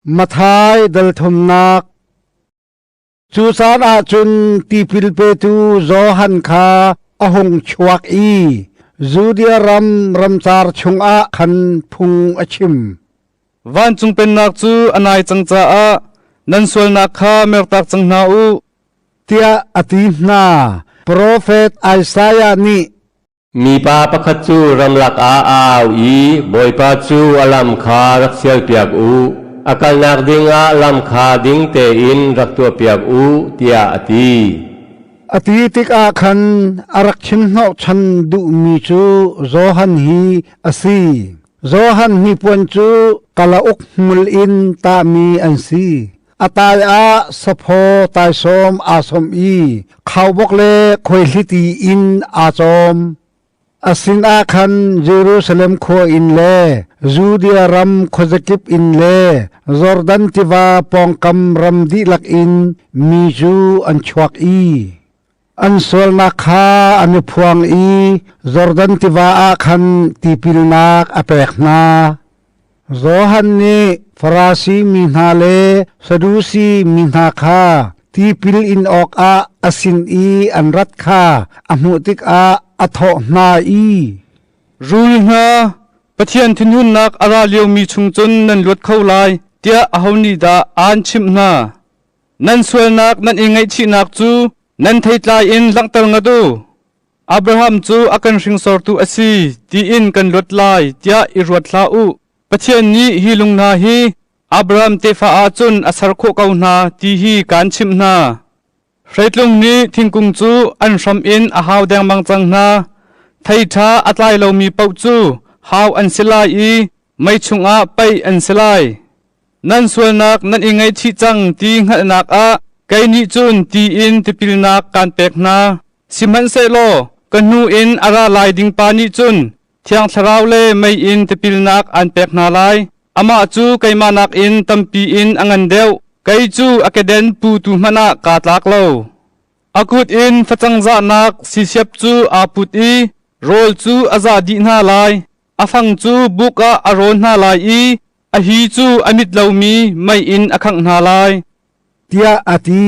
Mathai dalthumnak Cu caan ah cun tipil petu Johan kha a hung chuak i Judea ram ramcar chungah khan phung a chim. Vancung pennak cu a nai cang caah nan sualnak kha mertak cang hna u tiah a ti hna. Profet Isaiah nih Mipa pakhat cu ramlak ah a au i Bawipa cu a lam kha rak sialpiak u, a kalnak dingah lam kha ding tein rak tuahpiak u, tiah a ti. A ti tikah khan a rak chim hnawhchan duhmi cu Johan hi a si. Johan hnipuan cu kalauk hmul in tahmi an si. a tai ah saphaw taisawm aa som i khaubok le khoihliti in aa cawm. A sinah khan Jerusalem khua in le Judea ram khuazakip in le Jordan tiva pawngkam ram dihlak in mi cu an chuak i An sualnak kha an i phuang i Jordan tiva ah khan tipilnak a pek hna. Johan nih Farasi mi hna le Sadusi mi hna kha tipil in awkah a sin i an rat kha a hmuh tikah a thawh hna i, Rul hna, Pathian thinhunnak a ra liomi chung cun nan luat kho lai, tiah aho nih dah aan chimh hna? Nan sualnak nan i ngaihchihnak cu nan theitlai in langhter ngat u. Abraham cu a kan hringsortu a si tiin kan luat lai tiah i ruat hlah u. Pathian nih hi lung hna hi Abraham tefa ah cun a ser khawh ko hna ti hi kaan chimh hna. Hreitlung nih thingkung cu an hram in a hau dengmang cang hna. Thei ṭha a tlai lomi paoh cu hau an si lai i mei chungah paih an si lai. Nan sualnak nan i ngaichih cang ti hngalhnak ah kei nih cun ti in tipilnak kaan pek hna. Sihmanhsehlaw ka hnu in a ra lai ding pa nih cun Thiang Thlarau le mei in tipilnak aan pek hna lai. Amah cu keimah nakin tampi in a ngan deuh. Kei cu a keden putu hmanh ah kaa tlak lo. A kut in facangzahnak sisiap cu aa put i rawl cu a zah dih hna lai. A fang cu buk ah a rawn hna lai i a hi cu a mit lomi mei in a khangh hna lai, tiah a ti.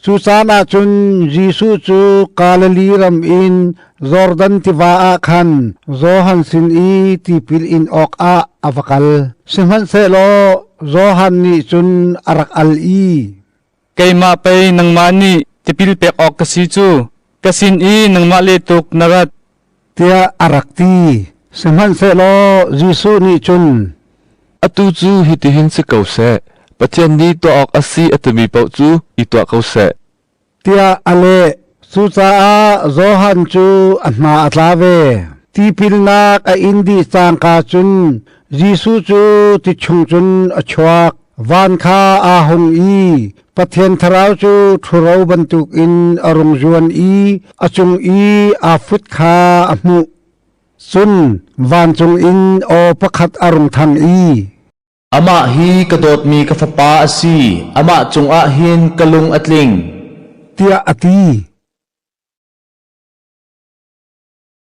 Cucaan ah cun Jesuh cu Galilee ram in Jordan tiva ah khan Johan sin i tipil in awkah a va kal. Sihmanhsehlaw Johan nih cun a rak al i, Keimah pei nangmah nih tipil pek awk ka si cu ka sin i nangmah le tuk na rat tiah a rak ti. Sihmanhsehlaw Jesuh nih cun atu cu hitihin si ko seh, Pathian nih tuah awk a si a timi paoh cu i tuah ko seh tiah a leh. Cucaah Johan cu a hna a tla ve. Tipilnak a in dih cangka cun Jesuh cu ti chung cun a chuak. Van kha aa hung i Pathian Thlarau cu ṭhuro bantuk in a rung zuan i a cung i aa fut kha a hmuh. Cun vancung in aw pakhat a rung thang i, Amah hi ka dawtmi ka fapa a si, amah cungah hin ka lung a tling, tiah a ti.